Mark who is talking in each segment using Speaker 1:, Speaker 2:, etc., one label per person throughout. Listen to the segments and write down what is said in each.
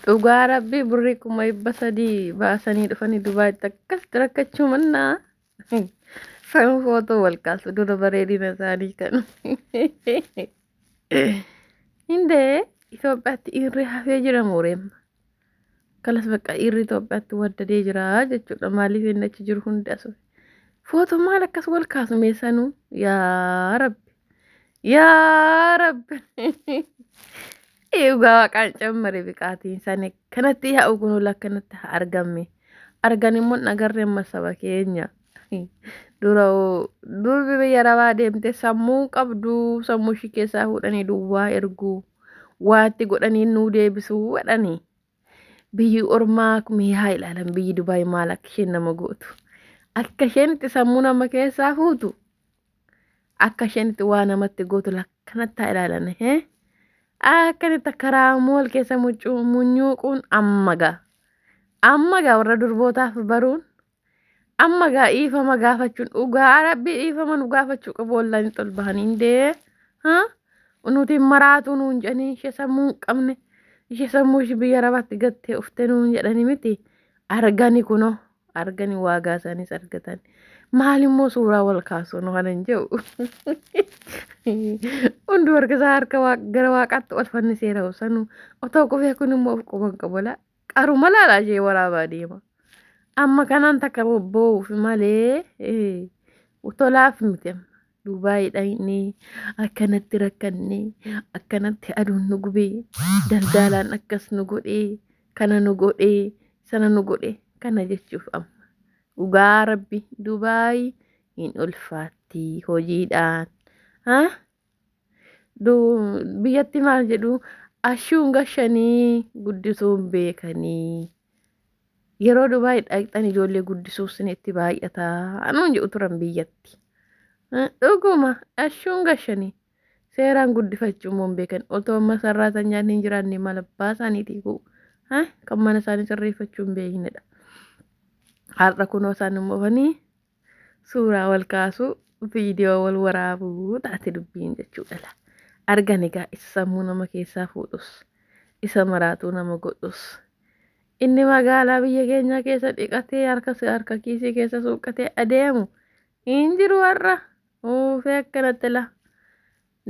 Speaker 1: Dhugaa rabbii birrii kuma dhibba sadii baasanii dhufanii Dubaayitti akkasitti rakkachuu mannaa san footoo wal kaasu dura bareedina isaanii kan hindee Itoophiyaatti dhiirri hafee jira mooreemma kalas bakka dhiirri Itoophiyaatti waddadee jira jechuudha maaliif inni achi jiru hundi asu footoo maal akkas wal kaasu meessanuu yaa rabbi Yaa rabbi. Dhugaa waaqaan cammari biqaatiin sani kanatti yaa ugunuu lakkanatti haa argamme. Argan immoo hin agarre amma saba keenya. Dura oo- durbi biyya rabaa deemte sammuu hin qabdu sammuu ishii keessaa fuudhanii duwwaa ergu. Waatti godhanii nuu deebisuu jedhanii. biyyi ormaa mee haa ilaalan biyyi dubaay maal akka isheen nama gootu akka isheen itti sammuu nama keessaa fuutu akka isheen itti waa namatti gootu lakkanatti haa ilaalan hee akkanitti akka raamool keessa mucuu munyuuquun amma gaa amma gaa warra durbootaaf baruun Amma gaa dhiifama gaafachuun dhugaa rabbi dhiifama nu gaafachuu qabu wallahi tol bahanii indee ha nuti maraatuu nuun jedhanii ishee sammuu hin qabne ishee sammuu ishee biyya rabaatti gattee ufte nuun jedhanii miti argani kunoo argani waagaa isaaniis argatan maal immoo suuraa wal kaasuu nu kana hin jedhu hundi warga isaa harka waaq- gara waaqaatti ol fanniseera sanuu otoo qubee kun immoo of quban qabola Qaruma laalaa ishee waraabaa deema. Amma kanaan takka bobba'uuf malee eh, tolaaf miti amma. Dubaayii dhaqnee akkanatti rakkannee akkanatti aduun nu gubee daldaalaan akkas nu godhee kana nu godhee sana nu godhee kana jechuuf amma. Dhugaa rabbi Dubaayii hin ulfaatti hojiidhaan. Ha? biyyatti maal jedhu ashuun gashanii guddisuun beekanii yeroo dubaay dhaqxan ijoollee guddisuuf sin itti baay'ataa anuun jedhu turan biyyatti dhuguma ashuun gashanii seeraan guddifachuu immoo hin beekan otoo amma sarraatanyaan hin jiraanne maal abbaa isaaniitii kuu kan mana isaanii sirreeffachuu hin beeknedha har'a kunoo isaan hin oofanii suuraa wal kaasuu viidiyoo wal waraabuu taate dubbiin jechuudha la argan egaa isa sammuu nama keessaa fuudhus isa maraatuu nama godhus inni magaalaa biyya keenyaa keessa dhiqatee harka harka kiisii keessa suuqqatee adeemu hin jiru har'a uufee akkanatti la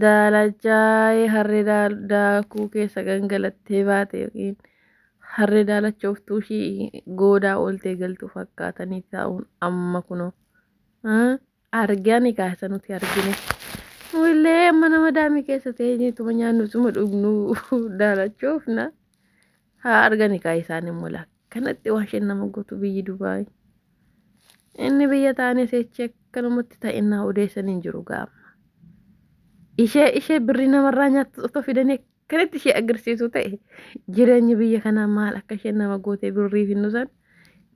Speaker 1: Daalachaa'ee harree daakuu keessa gangalattee baate yookiin harree daalachooftuu ishii goodaa ooltee galtu fakkaatanii taa'uun amma kunoo argaa ni kaasa nuti argine. Willee amma nama daamii keessa ta'ee tuma nyaannu tuma dhugnu daalachoofna. haa argani kaa isaan immoo laak kanatti waan isheen nama gootu biyyi Dubaay inni biyya taane seechi akkanumatti ta'innaa odeessan hin jiru gaama ishee ishee birrii namarraa nyaattu otoo fidanii akkanatti ishee agarsiisu ta'e jireenyi biyya kanaa maal akka isheen nama gootee birrii finnusan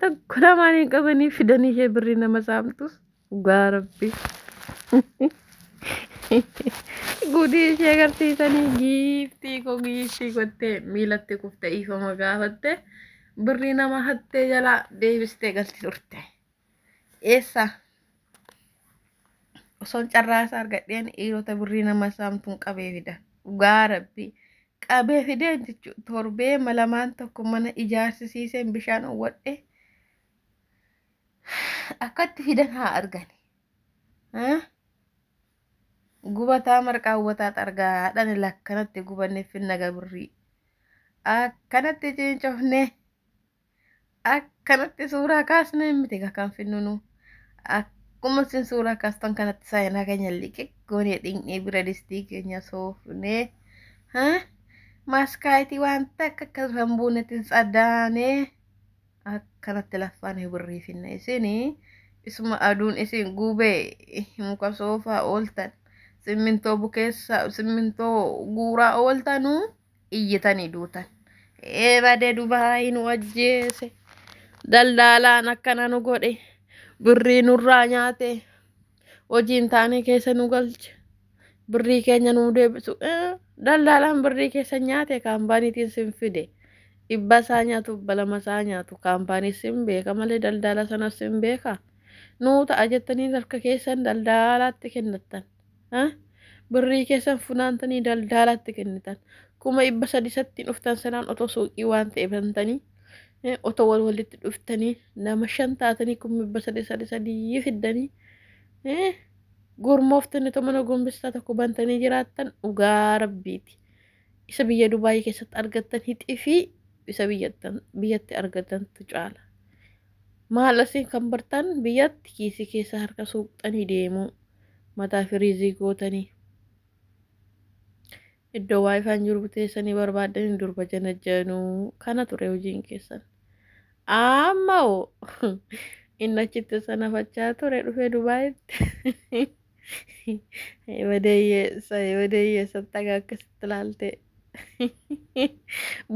Speaker 1: tokko lamaan hin qabanii fidanii ishee birrii nama saamtus Dhugaa rabbi. Gudii ishee agarsiisanii giiftii koo giiftii gottee miilatti kufte dhiifama gaafatte birrii nama hattee jalaa deebistee galti turte. Eessa? Osoon carraasa argadheen dhiirota birrii nama saamtuun qabee fida. Dhugaa rabbi. Qabee fideen jechuun torbee malamaan tokko mana ijaarsisiiseen bishaan owwadhe. akkatti fidan haa argani gubataa marqaa hubataa xargaa dhani lakkanatti gubanne finna gabirrii akkanatti cincofne akkanatti suuraa kaasne miti kan finnunu akkuma isin suuraa kaastan kanatti saayinaa keenya liqiq goonee dhiqnee bira distii keenya soofnee maaskaayitii waan takka akka hin buunetti hin tsadaanee. Akkanatti laffaan hin wirriifinna isin isuma aduun isin gubee muka soofaa ooltan simmintoo bukeessa simmintoo guuraa ooltanu iyyitanii duutan ee bade dubaayi nu ajjeese daldaalaan akkana nu godhe birrii nurraa nyaate hojii hin taane keessa nu galche birrii keenya nu deebisu daldaalaan birrii keessa nyaate kaampaaniitiin sin fide dhibba isaa nyaatu balama isaa nyaatu kaampaanii sin beeka malee daldaala sanas sin beeka nuu ta'a jettanii harka keessan daldaalaatti kennattan birrii keessan funaantanii daldaalaatti kennitan kuma dhibba sadisattiin dhuftan sanaan otoo suuqii waan ta'e bantanii Eh, otoo wal walitti dhuftanii nama shan taatanii kun mibba sadii sadii sadii fiddanii eh, gurmooftanii otoo mana gombistaa tokko bantanii jiraattan dhugaa rabbiiti. Isa biyya Dubaayii keessatti argattan hixii fi isa biyyattan biyyatti argattantu caala. Maal asiin kan bartan biyyatti kiisii keessa harka suuqxanii deemuu mataa firiizii gootanii. Iddoo waayifaan jiru teessanii barbaaddanii durba janajjanuu kana ture hojiin keessan. Amma hoo inni achitti sanafachaa ture dhufee Dubaayitti. Wadeeyyeessa wadeeyyeessa taga akkasitti ilaalte.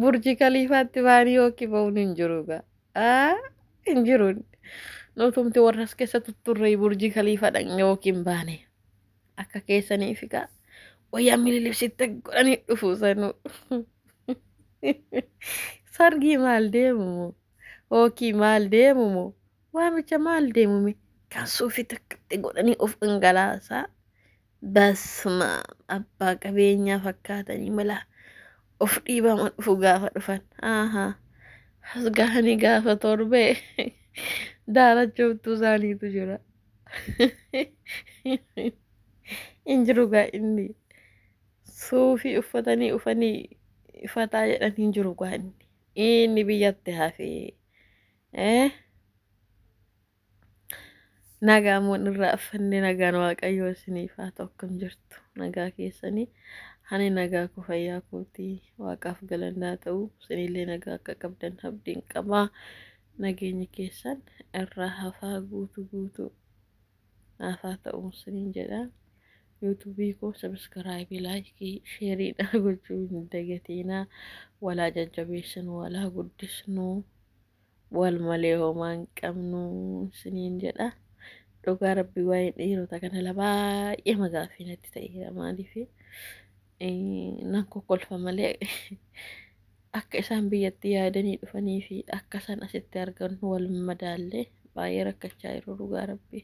Speaker 1: Burji kaliifaatti baanii yookiin ba'uun hin jiru gaa. Aa hin jiru. Nutumti warras keessa tutturree burji kaliifa dhaqne yookiin baane. Akka keessanii figaa. Wayyaa mililibsitte godhanii dhufu sanuu. Sargii maal deemumu? Hookii maal deemumu? Waamicha maal deemumi? Kan suufii takkatti godhanii of dhangalaasaa. Basma abbaa qabeenyaa fakkaatanii mala of dhiibama dhufu gaafa dhufan. Aha. As gahanii gaafa torbee daalachooftuu isaaniitu jira. hin jiru gaa inni suufii uffatanii ufanii fataa jedhan hin jiru gaa inni inni biyyatti hafee eh nagaa moon irraa affanne nagaan waaqayyoo isiniif haa ta'u akkam jirtu nagaa keessanii ani nagaa koo fayyaa kootii waaqaaf galanni haa ta'u isinillee nagaa akka qabdan abdiin qabaa Nageenyi keessan irraa hafaa guutu guutu naaf haa ta'u isiniin jedha. Yuutuubii koo sabiskiraayibii laayikii sheerii naa gochuu hin dagatiinaa walaa jajjabeessinu walaa guddisnu wal malee homaa hin qabnu isiniin jedha. Dhugaa rabbii waa'een dhiirota kana la baay'ee magaaffii natti ta'eera maaliifi Nan kokkolfa malee akka isaan biyyatti yaadanii dhufanii fi akka isaan asitti argan wal madaallee baay'ee rakkachaa jiru dhugaa rabbii.